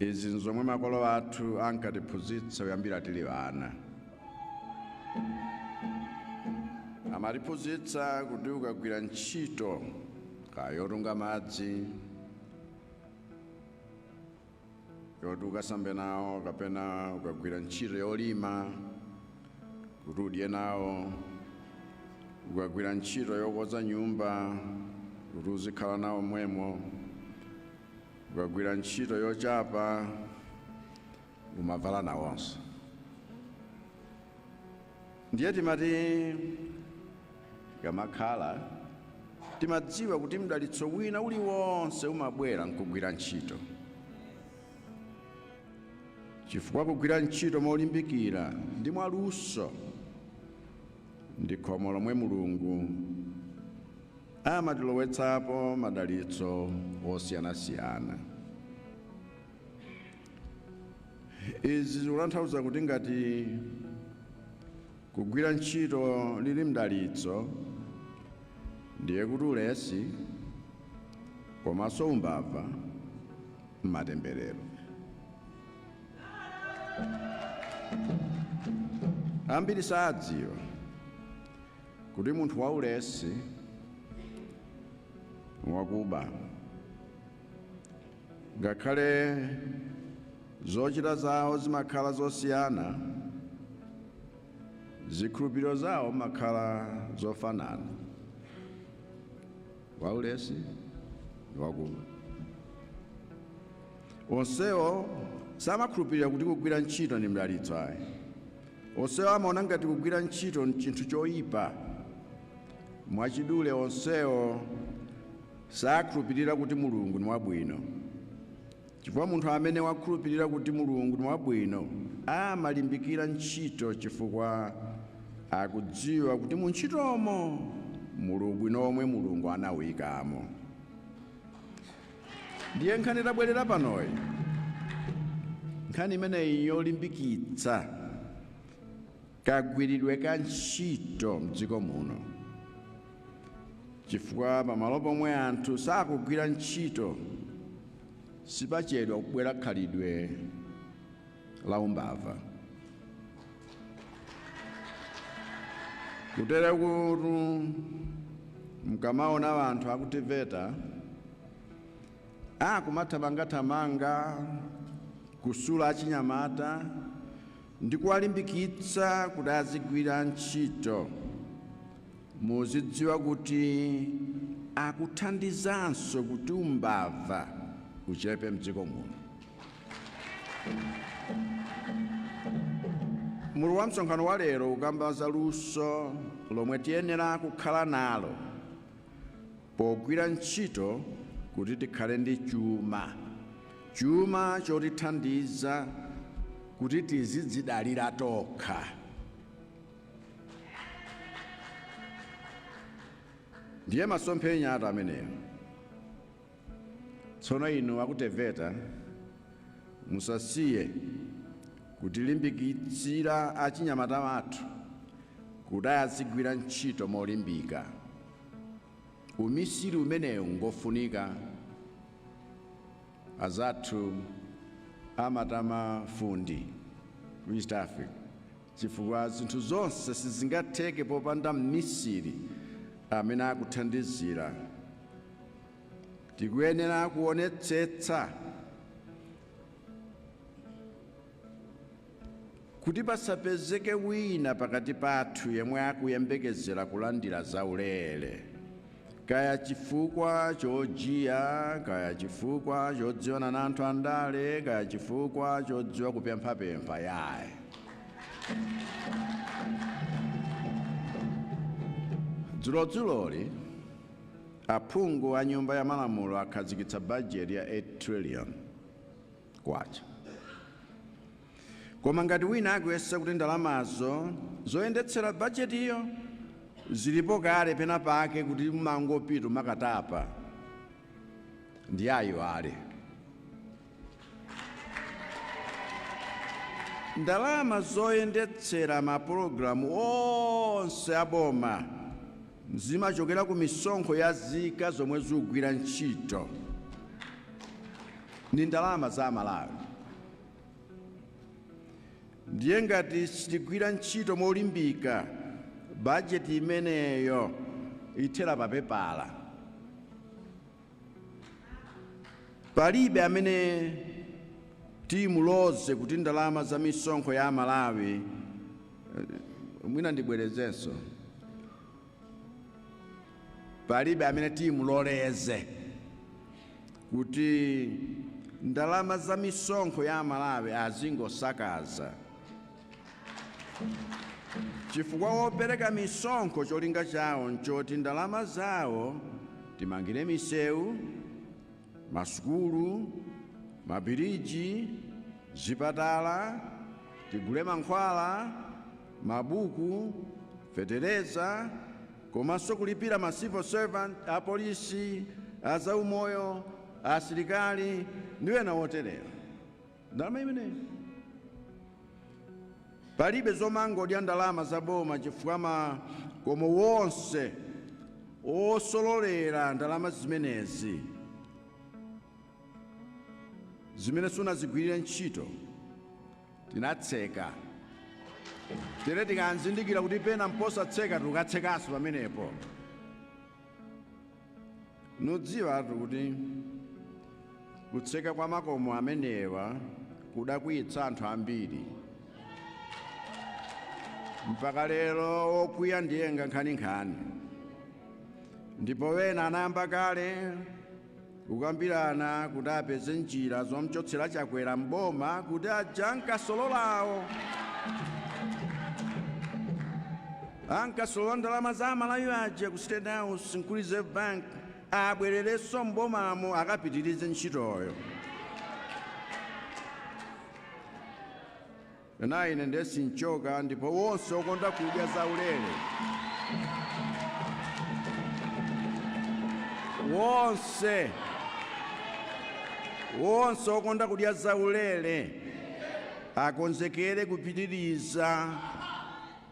Izi n'zomwe makolo athu ankatiphunzitsa kuyambira tili ana. Amatiphunzitsa kuti ukagwira ntchito, kaya yotunga madzi, yoti ukasambe nawo kapena ukagwira ntchito yolima kuti udye nawo, ukagwira ntchito yokonza nyumba kuti uzikhala nawo momwemo, Ukagwira ntchito yochapa umavala nawonso. Ndiye timati kamakhala timadziwa kuti mdalitso wina uliwonse umabwera nkugwira ntchito, chifukwa kugwira ntchito molimbikira ndi mwaluso ndi khomo lomwe Mulungu amatilowetsapo madalitso osiyanasiyana. Izi zikutanthauza kuti ngati kugwira ntchito lili mdalitso, ndiye kuti ulesi komanso umbava m'matemberero. Ambiri sadziwa kuti munthu waulesi wakuba ngakhale zochita zawo zimakhala zosiyana zikhulupiriro zawo makhala zofanana waulesi ndi wakuba onsewo samakhulupirira kuti kugwira ntchito ndi mdalitso ayi Onsewo amaona ngati kugwira ntchito n'chinthu choipa. Mwachidule, onsewo sakhulupirira kuti Mulungu ni wabwino. Chifukwa munthu amene wakhulupirira kuti Mulungu ni wabwino amalimbikira ntchito chifukwa akudziwa kuti mu ntchitomo muli ubwino omwe Mulungu anauikamo. Ndiye nkhani tabwerera panoyi, nkhani imeneyi yolimbikitsa kagwiridwe ka ntchito mdziko muno, chifukwa pamalo pomwe anthu sakugwira ntchito sipachedwa kubwera khalidwe la umbava. kutere kuti mkamaona wanthu aku TEVETA akumathamangathamanga kusula achinyamata ndi kuwalimbikitsa kuti azigwira ntchito muzidziwa kuti akuthandizanso kuti umbava uchepe mdziko muno Mutu wa msonkhano wa lero ukamba za luso lomwe tiyenera kukhala nalo pogwira ntchito kuti tikhale ndi chuma chuma chotithandiza kuti tizidzidalira tokha ndiye masomphenya athu ameneyo Tsono inu aku teveta musasiye kutilimbikitsira achinyamata athu kuti azigwira ntchito molimbika. Umisiri umenewu ngofunika. Anzathu amati ma fundi ku East Africa chifukwa zinthu zonse sizingatheke popanda mmisiri amene akuthandizira. tikuyenera kuonetsetsa kuti pasapezeke wina pakati pathu yemwe akuyembekezera kulandira zaulere kaya chifukwa chojiya kaya chifukwa chodziwana na anthu andale kaya chifukwa chodziwa kupemphapempha iyayi dzulodzuloli Aphungu a nyumba ya malamulo akhazikitsa bajeti ya 8 trillion kwacha. Koma ngati wina akuyesa kuti ndalamazo zoyendetsera bajetiyo zilipo kale pena pake kuti umangopita umakatapa ndiye ayiwale. Ndalama zoyendetsera mapulogalamu onse a boma zimachokera ku misonkho ya zika zomwe zugwira ntchito. Ni ndalama za Amalawi. Ndiye ngati sitigwira ntchito molimbika, bajeti imeneyo ithera papepala. Palibe amene timuloze kuti ndalama za misonkho ya Amalawi eh, mwina ndibwerezenso palibe amene timuloleze kuti ndalama za misonkho ya Amalawi azingosakaza chifukwa opereka misonkho cholinga chawo nchoti ndalama zawo timangire misewu masukulu mabiriji zipatala tigule mankhwala mabuku fetereza komanso kulipira ma civil servant apolisi azaumoyo asilikali ndi ena oterewa ndalama imeneyo palibe zomangodya ndalama za boma chifukwa makomo wonse osololera ndalama zimenezi zimene sunazigwirire ntchito tinatseka tere tikanzindikira kuti pena mposatseka tikatsekanso pamenepo Mudziwetu kuti kutseka kwa makomo amenewa kudakwiyitsa anthu ambiri mpaka lero wokwiya ndiye ngankhaninkhani ndipo wena anayamba kale kukambirana kuti apeze njira zomchotsera chakwera mboma kuti aja ankasolola awo Ankasolola ndalama za amalawi aja ku state house nku reserve bank abwerereso m'bomamo akapitirize ntchitoyo. Naye ine nde sinchoka ndipo wonse okonda kudya zaulere. Wonse. Wonse okonda kudya zaulere akonzekere kupitiriza.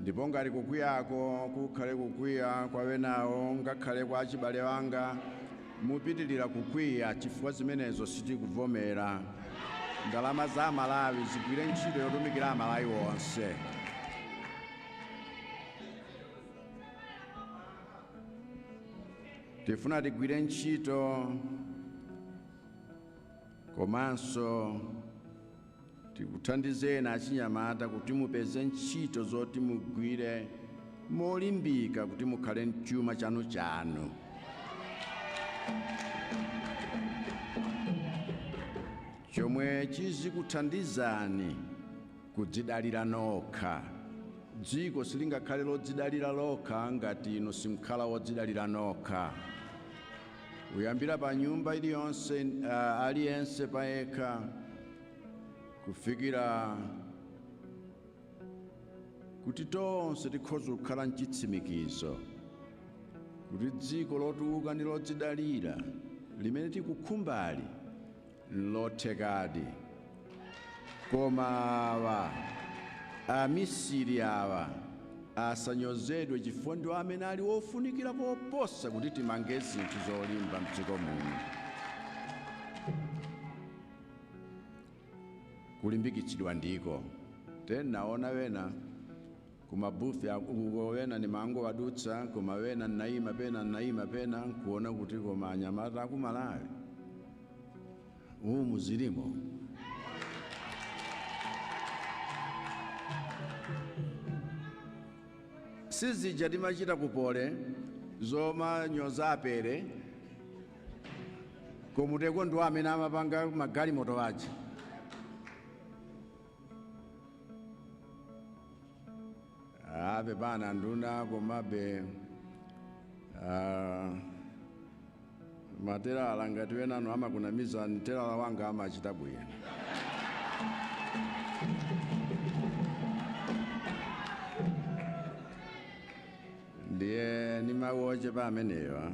ndipo ngati kukwiyako kukhale kukwiya kwa wenawo ngakhale kwa achibale anga mupitilira kukwiya chifukwa zimenezo sitikuvomera ndalama za amalawi zigwire ntchito yotumikira amalawi onse tifuna tigwire ntchito komanso Tikuthandizeni achinyamata kuti mupeze ntchito zoti mugwire molimbika kuti mukhale n'chuma chanuchanu. Chomwe chizikuthandizani kudzidalira nokha. Dziko silingakhale lodzidalira lokha ngati inu simkhala wodzidalira nokha. Kuyambira pa nyumba iliyonse, ah, aliyense payekha, kufikira kuti tonse tikhoza kukhala mchitsimikizo kuti dziko lotukuka ndi lodzidalira limene tikukhumbali nlothekadi koma awa amisiri awa asanyozedwe chifukwa ndiwo amene ali wofunikira koposa kuti timange zinthu zolimba mdziko muno kulimbikitsidwa ndiko tenaona wena kumabufe uko wena nimangowadutsa koma wena nnaima pena nnaima pena nkuona kuti koma anyamata aku Malawi umu zilimo si zija timachita kupole zomanyoza apere komatu ndiwo amene amapanga magalimoto aja ape pana nduna komabe ah, matelala ngati wenanu amakunamizani telala wanga amachita bwino Ndiye ni mawu ochepa amenewa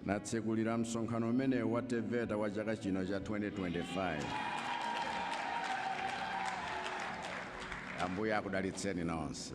natsekulira msonkhano umenewu wa Teveta wa chaka chino cha 2025. Ambuye akudalitseni nonse.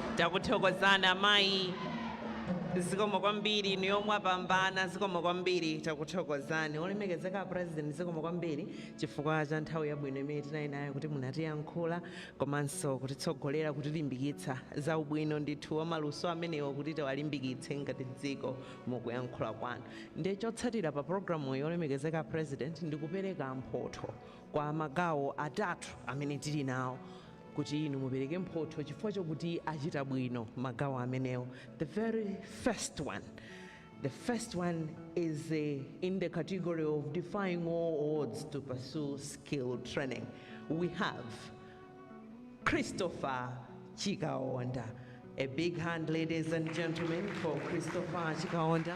Takuthokozani amayi. Zikomo kwambiri inuyo mwapambana zikomo kwambiri takuthokozani. Olemekezeka a President zikomo kwambiri chifukwa cha nthawi yabwino imene tinali nayo kuti munatiyankhula komanso kutitsogolera kutilimbikitsa za ubwino ndithu wa maluso amenewa kuti tiwalimbikitse ngati dziko mukuyankhula kwanu. Ndiye chotsatira pa programuyi olemekezeka a President ndikupereka mphotho kwa magawo atatu amene tili nawo. kuti inu mupereke mphotho chifukwa chokuti achita bwino magawo amenewo the very first one the first one is uh, in the category of defying all odds to pursue skill training we have christopher chikaonda a big hand ladies and gentlemen for christopher chikaonda